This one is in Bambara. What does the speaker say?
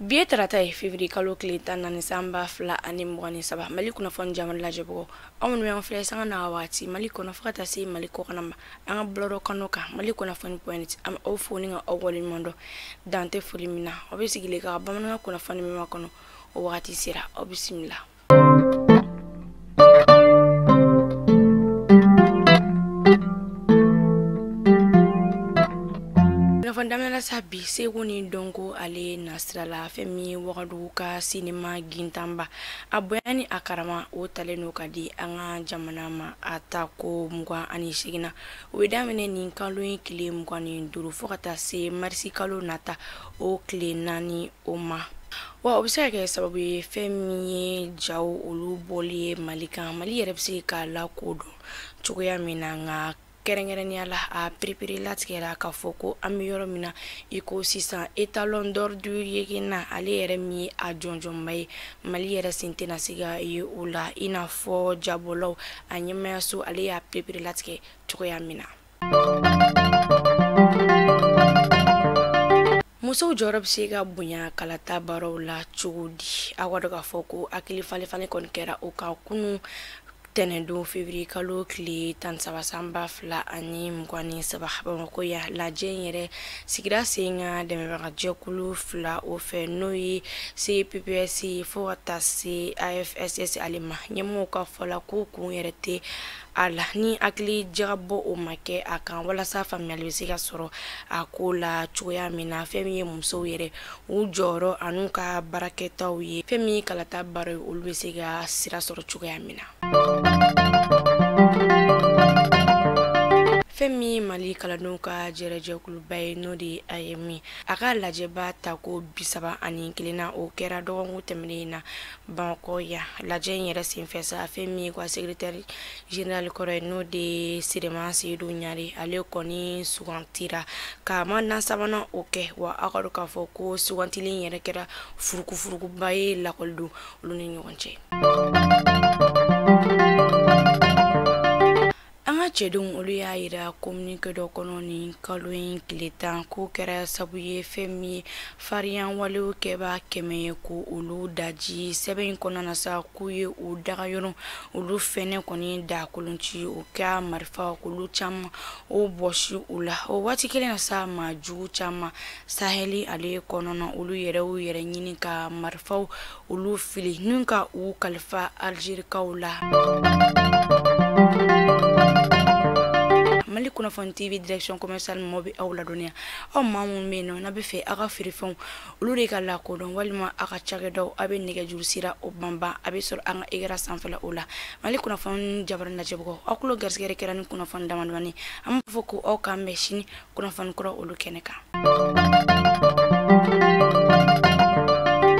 bi ye tarata ye fevrier kalo tile tan naani san ba fila ani mugan ni saba mali kunnafoni jamana lajɛbagaw aw minnu y'an filɛ sanga na waati mali kɔnɔ fo ka taa se mali kɔkanna ma an ka bɔlɔlɔ kano kan mali kunnafoni point an bɛ aw fo ni ka aw waleɲuman dɔn dan tɛ foli min na aw bɛ sigilen ka bamanankan kunnafoni min makɔnɔ o wagati sera aw bisimila N'a fɔ daminɛ la sa bi seko ni dɔnko ale nasira la fɛn min ye wagadugu ka sinima gintanba a bonya ni a karama o talen don ka di an ka jamana ma a tako mugan ani seeginnan o bɛ daminɛ nin kalo in tile mugan ni duuru fo ka taa se marisi kalo nata o tile naani o ma wa o bɛ se ka kɛ sababu ye fɛn min ye jaw olu bɔli ye mali kan mali yɛrɛ bɛ se ka lakodɔn cogoya min na nka kɛrɛnkɛrɛnnenya la a perepere latigɛra k'a fɔ ko an bɛ yɔrɔ min na i ko sisan etalon d'or de yennenga ale yɛrɛ min ye a jɔnjɔnba ye mali yɛrɛ sen tɛna se ka ye o la i n'a fɔ jabɔlaw a ɲɛmaayaso ale y'a perepere latigɛ cogoya min na musow jɔyɔrɔ bɛ se ka bonya kalata baaraw la cogo di aw k'a dɔn k'a fɔ ko hakili falefalen kɔni kɛra o kan kunun tɛnɛndon fevriye kalo tile tan ni saba san ba fila ani mugan ni saba bamakɔ yan lajɛ in yɛrɛ sigira sen kan dɛmɛbagajɛkulu fila o fɛ n'o ye cpps fo ka taa se afss ale ma ɲɛmɔgɔw ka fɔ la ko kun yɛrɛ tɛ a la ni hakili jagabɔ o ma kɛ a kan walasa faamuyali bɛ se ka sɔrɔ a ko la cogoya min na fɛn min ye musow yɛrɛ u jɔyɔrɔ an'u ka baarakɛtaw ye fɛn min ye kalata baara ye olu bɛ se ka sira sɔrɔ cogoya min na fɛn min ye mali kalandenw ka jɛrɛjɛkuluba ye n'o de aeem a ka lajɛba tako bisaba ani kelennan o kɛra dɔgɔkun tɛmɛnen in na Bamakɔ yan lajɛ in yɛrɛ senfɛ sa fɛn min ye ko secrétaire général kɔrɔ ye n'o de siriman seyidu ɲare ale kɔni sugantira ka manda sabanan o kɛ wa aw k'a dɔn k'a fɔ ko sugantili yɛrɛ kɛra furukufurukuba ye lakɔliden olu ni ɲɔgɔn cɛ an ka cɛdenw olu y'a yira kominike dɔ kɔnɔ nin kalo in tile tan k'u kɛra sabu ye fɛn min ye farinyawalew kɛbaa kɛmɛ ye ko olu daji sɛbɛn in kɔnɔna na sa k'u ye u dagayɔrɔ olu fɛnɛ kɔni da kolonci o ka marifa kulu caman o bɔsi u la o waati kelen na sa maa jugu caman sahɛli ale kɔnɔna olu yɛrɛ u yɛrɛ ɲini ka marifaw olu fili ni ka u kalifa alizerikaw la mali kunnafoni tv direction commercial mɔgɔw bɛ aw ladɔnniya aw maa minnu bɛ yen nɔ n'aw b'a fɛ aw ka feerefɛnw olu de ka lakodɔn walima aw ka cakɛdaw aw bɛ nɛgɛjuru sira o banban a bɛ sɔrɔ an ka ekran sanfɛla o la mali kunnafoni jabarin lajɛbagaw aw tulo garisigɛ de kɛra nin kunnafoni damadamani an b'a fɔ ko aw k'an bɛn sini kunnafoni kura olu kɛnɛ kan